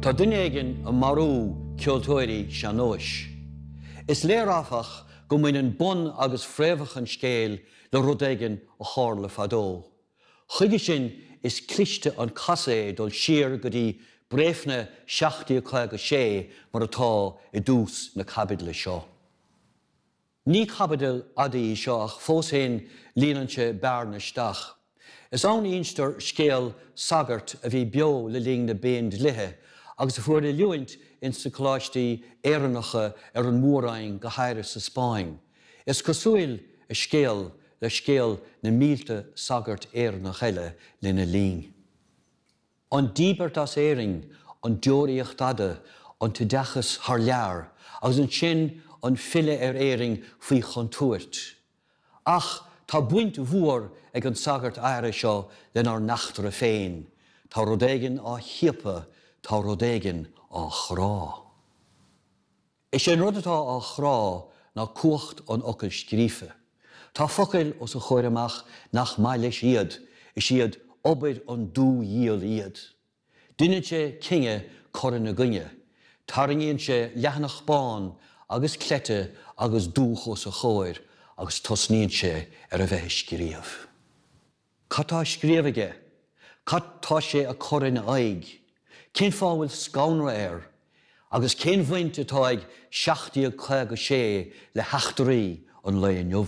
Tá duine éigin ag marú ceoltóirí sean-nóis. Is léir áfach go mbaineann bun agus fréamhach an scéil le rud éigin a tharla fadó. Chuige sin is cliste an casadh é dul siar go dtí Bréifne 1756 mar atá i dtús na caibidle seo. Ní caibidil fhada í seo ach fós fhéin líonann sí bearna isteach. Is ann a instear scéal sagairt a bhí beo le linn na bPéindlíthe agus a fuair oiliúint ins na coláistí Éireannacha ar an Mór-Roinn go háirithe sa Spáinn. Is cosúil a scéal le scéal na mílte sagart Éireannach eile lena linn. An díbirt as Éirinn, an deoraíocht fhada, an t-oideachas thar lear, agus ansin an filleadh ar Éirinn faoi chontúirt. Ach tá baint mhór ag an sagart áirithe seo lenár n-eachtra féin. Tá rud éigin á chiapadh, tá rud éigin á chrá. Is é an rud atá á chrá ná cumhacht an fhocail scríofa. Tá focail os a chomhair amach nach maith leis iad, is iad obair an dúdhiabhail iad. Deineann sé cinneadh cur ina gcoinne, tarraingíonn sé leathanach bán agus cleite agus dúch os a chomhair agus tosnaíonn sé ar a bheith ag scríobh. Cad tá á scríobh aige? Cad tá sé ag cur ina aghaidh? Cén fáth a bhfuil scanradh air? Agus cén bhaint atá ag 1756 le heachtraí an lae inniu?